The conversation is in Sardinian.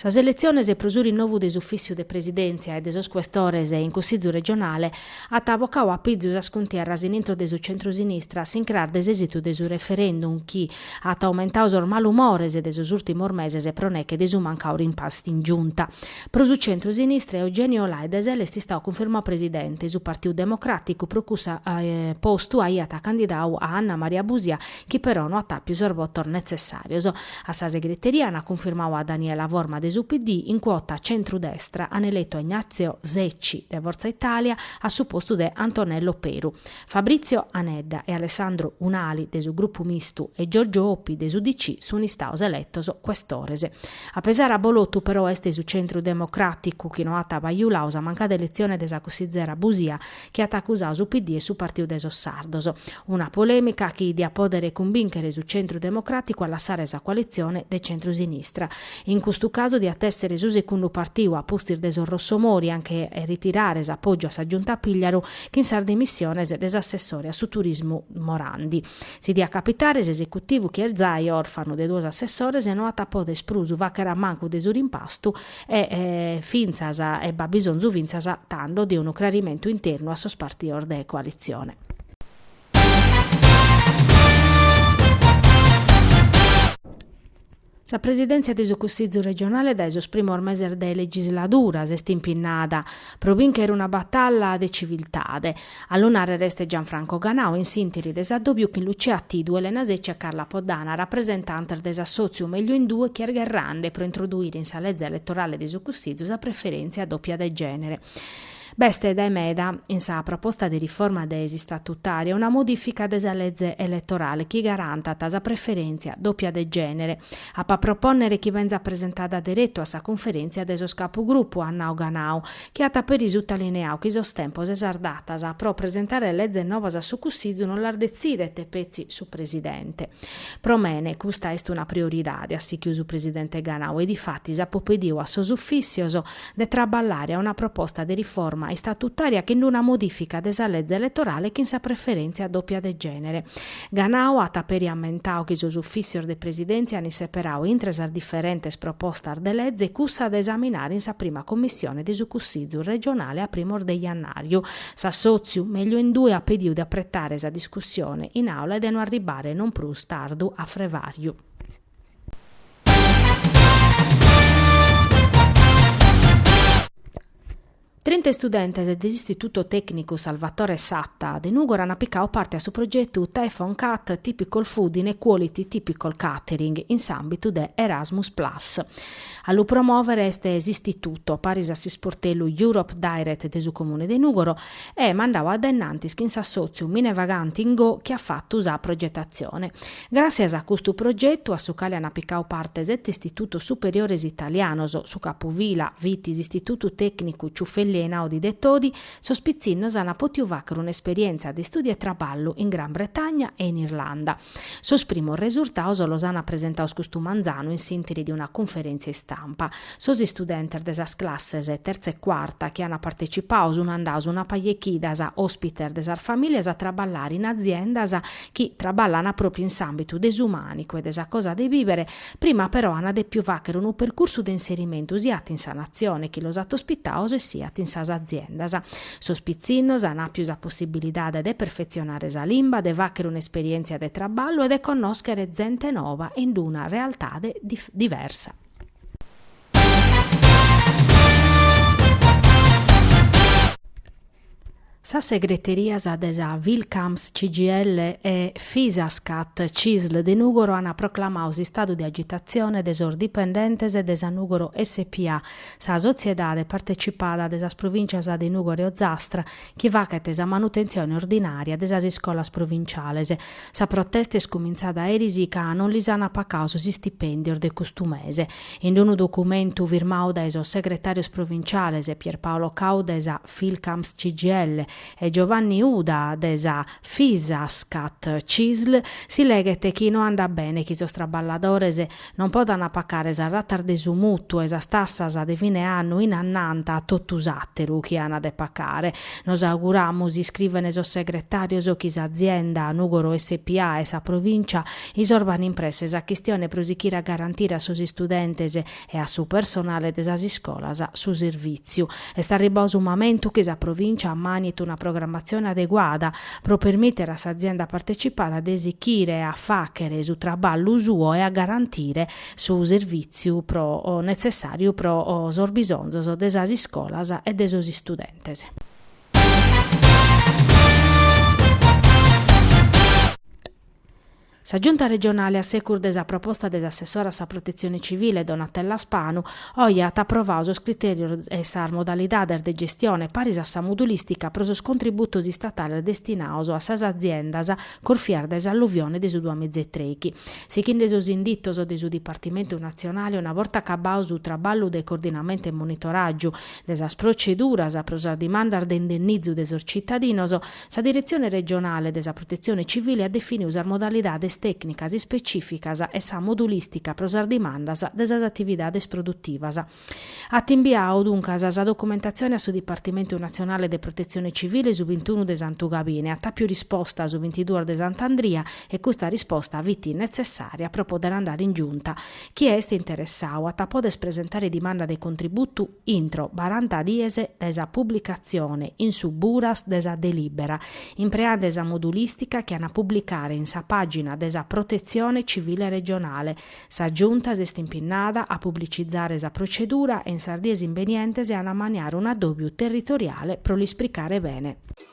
Sas eletziones pro su rinnovu de s'ufìssiu de presidèntzia e de sos cuestores in Cussizu regionale at bocau a pizu sas cuntierras in intro de su centrosinistra s'incràs de s'èsitu de su referendum chi at aumentau sos malumores de sos ùrtimos meses pro neche de su mancau rimpastu in Giunta. Pro su centrosinistra Eugenio Lai de SEL est istau cunfirmau presidente, su Partiu Democràticu pro cussa postu aiat candidau a Anna Maria Busia chi però no at àpiu sos votos netzessàrios. A sa segreteria ant cunfirmau a Daniela Forma de su PD in cuota centru-destra, ant eletu a Ignazio Secci de Forza Italia a su postu de Antonello Peru. Fabrizio Anedda e Alessandro Unali de su Grupu Mistu e Giorgio Oppi de s'UDC sunt istaos eletos cuestores. A pesare abolotu però est su Centru Democràticu chi no at bajulau sa mancada eletzione de sa cussizera Busia chi at acusau su PD e su Partiu de sos Sardos. Una polèmica chi diat pòdere cumbìnchere su Centru Democràticu a lassare sa coalitzione de centru-sinistra. In custu casu diat èssere su secundu partiu a pustis de sos Rossomori a nche ritirare s'apògiu a sa Giunta Pigliaru chin sas dimissiones de s'assessore a su Turismu Morandi. Si diat capitare, s'esecutivu chi est zai òrfanu de duos assessores no at a pòdere prus fàghere a mancu de su rimpastu, E fintzas e b'at bisonzu fintzas tando de unu crarimentu internu a sos partios de coalitzione. Sa presidèntzia de su Cussizu regionale dae sos primos meses de legisladura s'est impinnada pro bìnchere una batalla de civiltade, A lu nàrrere est Gianfranco Ganau in s'ìntiri de s'addòbiu chin Lucia Tidu, Elena Secci e Carla Poddana, rapresentantes de s'assòtziu Meglio in Due chi est gherrande pro introduire in sa leze eletorale de su Cussizu sa preferèntzia dòpia de gènere. B'est dae meda in sa proposta de riforma de s'istatutària una modìfica de sa leze eletorale chi garantat sa preferèntzia dòpia de gènere. Apo a propònnere chi benzat presentada deretu a sa Conferèntzia de sos Capugrupu, at nau Ganau, chi at peri sutalineau chi sos tempos e sas datas pro presentare lezes novas a su Cussizu non las detzidet petzi su Presidente. Pro mene custa est una prioridade, at sichiu su Presidente Ganau e difatis apo pediu a sos ufìssios de traballare a una proposta de riforma istatutària chin una modìfica de sa leze eletorale chin sa preferèntzia dòpia de gènere Ganau at peri ammentau chi sos ufìssios de Presidèntzia ant isseperau intre sas diferentes propostas de leze cussa de esaminare in sa prima commissione de su Cussizu regionale a primos de jannàriu. S'assòtziu Meglio in Due at pediu de apretare sa discussione in Àula e de no arribare non prus tardu a frevàriu. Trinta istudentes de s'Istituto Tècnicu Salvatore Satta de Nùgoro ant picadu parte a su progetu Typoo Cat Typical Food in Quality Typical Catering in s'àmbitu de Erasmus Plus. A lu promòvere est s'Istituto, paris a s'isportellu Europe Direct de su Comune de Nùgoro, e mandadu a dae innantis chin s'assòtziu Mine Vaganti NGO chi at fatu sa progetatzione. Gràssias a custu progetu, a su cale ant picadu parte sete istitutos superiores italianos, su capufila fit s'Istitutu Tècnicu Ciuffelli Einaudi de Todi, sos pitzinnos ant pòtidu fàghere un'esperièntzia de istùdiu e traballu in Gran Bretagna e in Irlanda. Sos primos resurtados los ant presentados custu manzanu in s'ìntiri de una cunferèntzia istampa. Sos istudentes de sas classes tertza e cuarta chi ant partecipadu sunt andados una paja 'e chidas òspites de sas famìlias a traballare in aziendas chi traballan pròpiu in s'àmbitu de su mànicu e de sa cosa de bìbere, prima però an dèpiu fàghere unu percursu de inserimentu siat in sa Natzione chi los at ospitados e siat in sas aziendas. Sos pitzinnos an àpiu sa possibilidade de perfetzionare sa limba, de fàghere un'esperièntzia de traballu e de connòschere zente noba in una realtade diversa. Sas segreterias de sa Filcams CGIL e Fisascat Cisl de Nùgoro ant proclamadu s'istadu de agitatzione de sos dipendentes de sa Nùgoro SpA, sa sotziedade partecipada de sas provìntzias de Nùgoro e Ozastra chi faghet sa manutentzione ordinària de sas iscolas provintziales. Sa protesta est cumintzada eris ca non lis ant pacadu sos istipèndios de custu mese. In unu documentu firmadu dae sos segretàrios provintziales Pierpaolo Cau de sa Filcams-CGIL e Giovanni Uda de sa Fisascat-Cisl si leghet chi no andat bene chi sos traballadores Non podant pacare sas ratas de su mùtuu e sas tassas de fine annu in annanta a totu s'àteru chi an de pacare. Nos auguramus, iscriven sos segretàrios, chi s'azienda Nùgoro SpA e sa Provìncia isorban in presse sa chistione pro sichire a garantire a sos istudentes e a su personale de sas iscolas su servìtziu. Est arribadu su mamentu chi sa Provìncia ammànit una programmatzione adeguada, pro permìtere a s'azienda partecipada de sichire a fàghere su traballu suo e a garantire su servìtziu pro netzessàriu pro sos bisonzos de sas iscolas e de sos istudentes. Sa Giunta regionale a segus de sa proposta de s'assessora a sa Protetzione Civile Donatella Spanu, oje at aprovau sos critèrios e sas modalidades de gestione paris a sa modulìstica pro sos contributos istatales destinaos a sas aziendas corfias dae s'alluvione de su duamìgia e trèighi, sighende sos inditos de su Dipartimentu natzionale una borta acabau su traballu de coordinamentu e monitoràgiu de sas proceduras pro sas dimandas de indennizu de sos citadinos. Sa Diretzione Regionale de sa Protetzione Civile at definiu sas modalidades tècnicas ispecìficas e sa modulìstica pro sas dimandas de sas atividades produtivas. At imbiadu, duncas, sa documentatzione a su Dipartimentu Natzionale de Protetzione Civile su bintunu de Santu Gabine, at àpiu risposta su bintiduos de Sant'Andria e custa risposta fit netzessària pro poder andare in Giunta. Chie est interessau at a poder presentare dimanda de contributu intro baranta dies dae sa publicatzione in su Buras de sa delìbera, impreende sa modulìstica chi an a publicare in sa pàgina de sa Protetzione Civile Regionale, sa Giunta s'est impinnada a publicizare sa procedura e in sas dies imbenientes at a maniare un'adòbiu territoriale pro l'isplicare bene.